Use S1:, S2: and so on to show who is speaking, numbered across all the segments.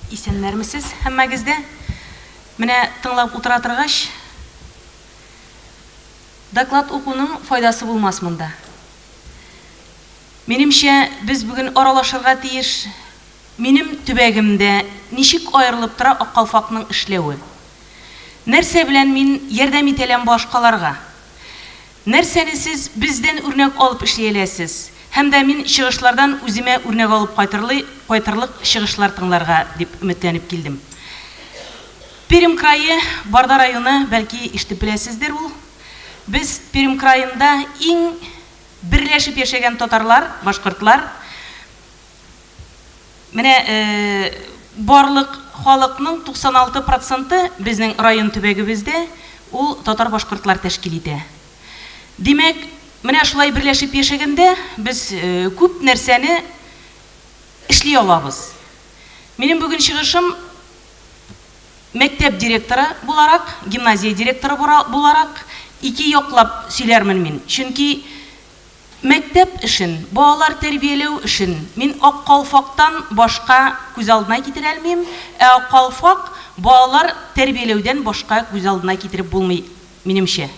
S1: Исәннәрмесез һәммәгез дә. Менә тыңлап утыра торгач, доклад укуның файдасы булмас монда. Минемчә, без бүген аралашырга тиеш минем төбәгемдә ничек аерылып тора Аккалфакның эшләве? Нәрсә белән мин ярдәм итәләм башкаларга? Нәрсәне сез бездән үрнәк алып эшли әләсез? Һәм дә мин чыгышлардан үземә үрнәк алып кайтырлый кайтырлык чыгышлар тыңларга дип өметләнеп килдем. Пермь крае, Барда районы, бәлки, ишетеп беләсездер, ул без Пермь краенда иң берләшеп яшәгән татарлар, башкортлар. Менә барлык халыкның 96 проценты безнең район төбәгебездә ул татар-башкортлар тәшкил итә. Димәк, менә шулай берләшеп яшәгәндә без күп нәрсәне эшли алабыз. Минем бүген чыгышым мәктәп директоры буларак, гимназия директоры буларак ике яклап сөйләрмен мин. Чөнки Мәктәп эшен, балалар тәрбияләү эшен мин Ак калфактан башка күз алдына китерә алмыйм, ә Ак калфак балалар тәрбияләүдән башка күз алдына китереп булмый, минемчә.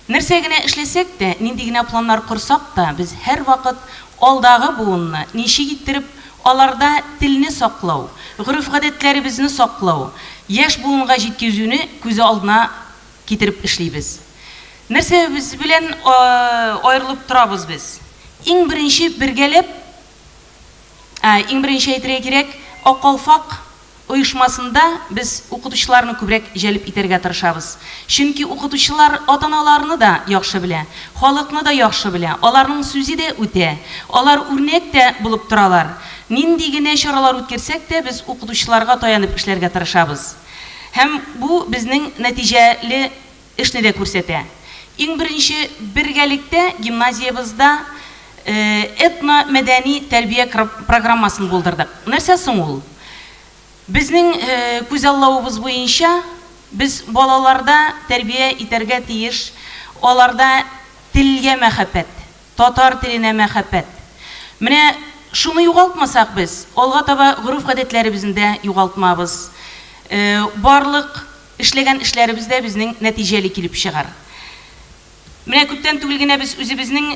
S1: Нәрсә генә эшләсәк тә, нинди генә планнар корсак та, без һәрвакыт алдагы буынны ничек иттереп аларда телне саклау, гореф-гадәтләребезне саклау, яшь буынга җиткезүне күз алдына Китереп эшлибез. Нәрсәбез белән аерылып торабыз без? Иң беренче бергәләп, ә, иң беренче әйтергә кирәк, Ак калфак оешмасында без укытучыларны күбрәк җәлеп итәргә тырышабыз. Чөнки укытучылар ата-аналарны да яхшы белә, халыкны да яхшы белә, аларның сүзе дә үтә, алар үрнәк тә булып торалар. Нинди генә чаралар үткәрсәк тә, без укытучыларга таянып эшләргә тырышабыз. Һәм бу безнең нәтиҗәле эшне дә күрсәтә. Иң беренче, бергәлектә гимназиябызда этно-мәдәни тәрбия программасын булдырдык. Нәрсә соң ул? Безнең күзаллавыбыз буенча, без балаларда тәрбия итәргә тиеш, аларда телгә мәхәббәт, Татар теленә мәхәббәт. Менә шуны югалтмасак без, алга таба гореф-гадәтләребезне дә югалтмабыз. Барлык эшләгән эшләребез дә безнең нәтиҗәле килеп чыгар. Менә күптән түгел генә без үзебезнең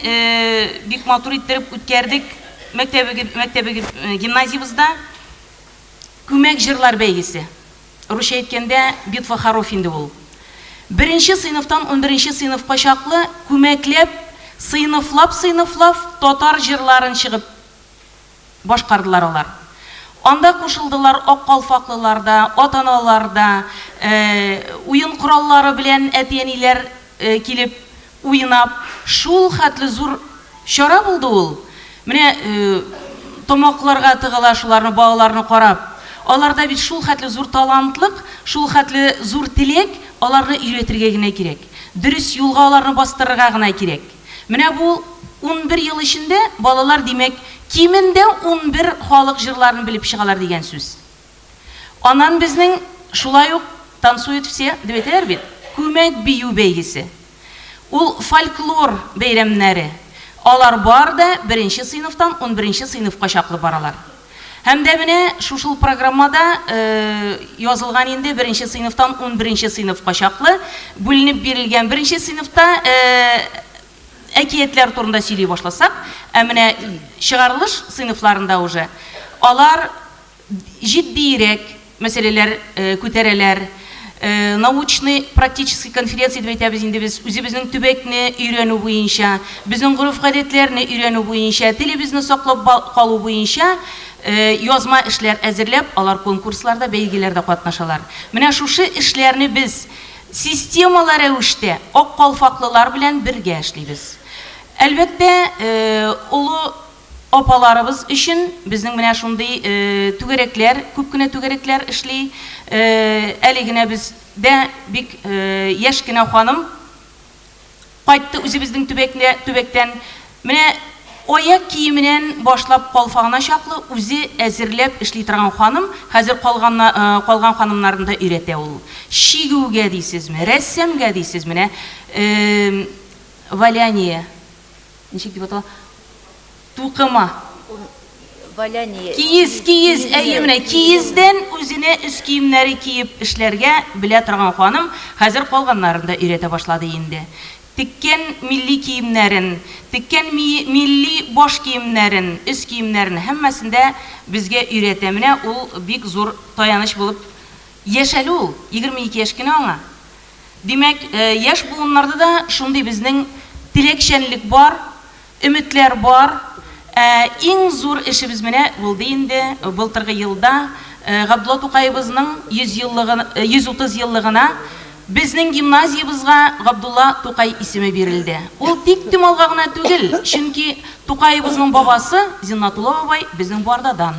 S1: бик матур иттереп үткәрдек мәктәбебез, гимназиябездә Күмәк җырлар бәйгесе. Русча әйткәндә, битва хоров инде ул. Беренче сыйныфтан унберенче сыйныфка чаклы күмәкләп, сыйныфлап-сыйныфлав татар җырларын чыгып башкардылар алар. Анда кушылдылар ак калфаклылар да, ата-аналар да, уен кораллары белән әти-әниләр килеп. уйнап, шул хәтле зур чара булды ул. Менә тамакларга тыгыла шуларны, балаларны карап. Аларда бит шул хәтле зур талантлык, шул хәтле зур теләк, аларны өйрәтергә генә кирәк. Дөрес юлга аларны бастырырга гына кирәк. Менә бу унбер ел эчендә балалар, димәк, кимендә унбер халык җырларын белеп чыгалар дигән сүз. Аннан безнең шулай ук Танцуют все, дип әйтәләр бит, күмәк бию бәйгесе. Ул фольклор бәйрәмнәре. Алар бар да беренче сыйныфтан унберенче сыйныфка чаклы баралар. Һәм дә менә шушыл программада язылган инде беренче сыйныфтан унберенче сыйныфка чаклы бүленеп бирелгән. Беренче сыйныфта әкиятләр турында сөйли башласак, ә менә чыгарылыш сыйныфларында уже алар җитдиерәк мәсьәләләр күтәрәләр. Научный, практический конференция дип әйтәбез инде без. Үзебезнең төбәкне өйрәнү буенча, безнең гореф-гадәтләрне өйрәнү буенча, телебезне саклап калу буенча язма эшләр әзерләп, алар конкурсларда, бәйгеләрдә катнашалар. Менә шушы эшләрне без системалы рәвештә ак калфаклылар белән бергә эшлибез. Әлбәттә, олы Апаларыбыз өчен безнең менә шундый түгәрәкләр, күп кенә түгәрәкләр эшли. Әле генә бездә бик яшь кенә ханым кайтты үзебезнең төбәкне, төбәктән. Менә аяк киеменән башлап калфагына чаклы үзе әзерләп эшли торган ханым. Хәзер калган, калган ханымнарны да өйрәтә ул. Чигүгә дисезме, рәссамга дисез, менә валяние. Ничек дип атала? Тукыма.
S2: Валяние. Киез, киез,
S1: әйе менә киездән үзенә өс киемнәре киеп эшләргә белә торган ханым хәзер калганнарын да өйрәтә башлады инде. Теккән милли киемнәрен, теккән милли баш киемнәрен, өс киемнәрен һәммәсен дә безгә өйрәтә. Менә ул бик зур таяныч булып яшәле ул, егерме ике яшь кенә аңа. Димәк, яшь буыннарда да шундый безнең теләкчәнлек бар, өметләр бар. Ә иң зур эшебез менә булды инде, былтыргы елда Габдулла Тукаебызның 100 еллыгы, 130 еллыгына безнең гимназиябызга Габдулла Тукай исеме бирелде. Ул тик Томалга гына түгел, чөнки Тукаебызның бабасы Зиннатулла бабай безнең Бардадан.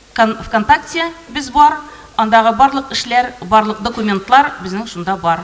S1: Кан вконтакте без бар, андагы барлык эшләр, барлык документлар безнең шунда бар.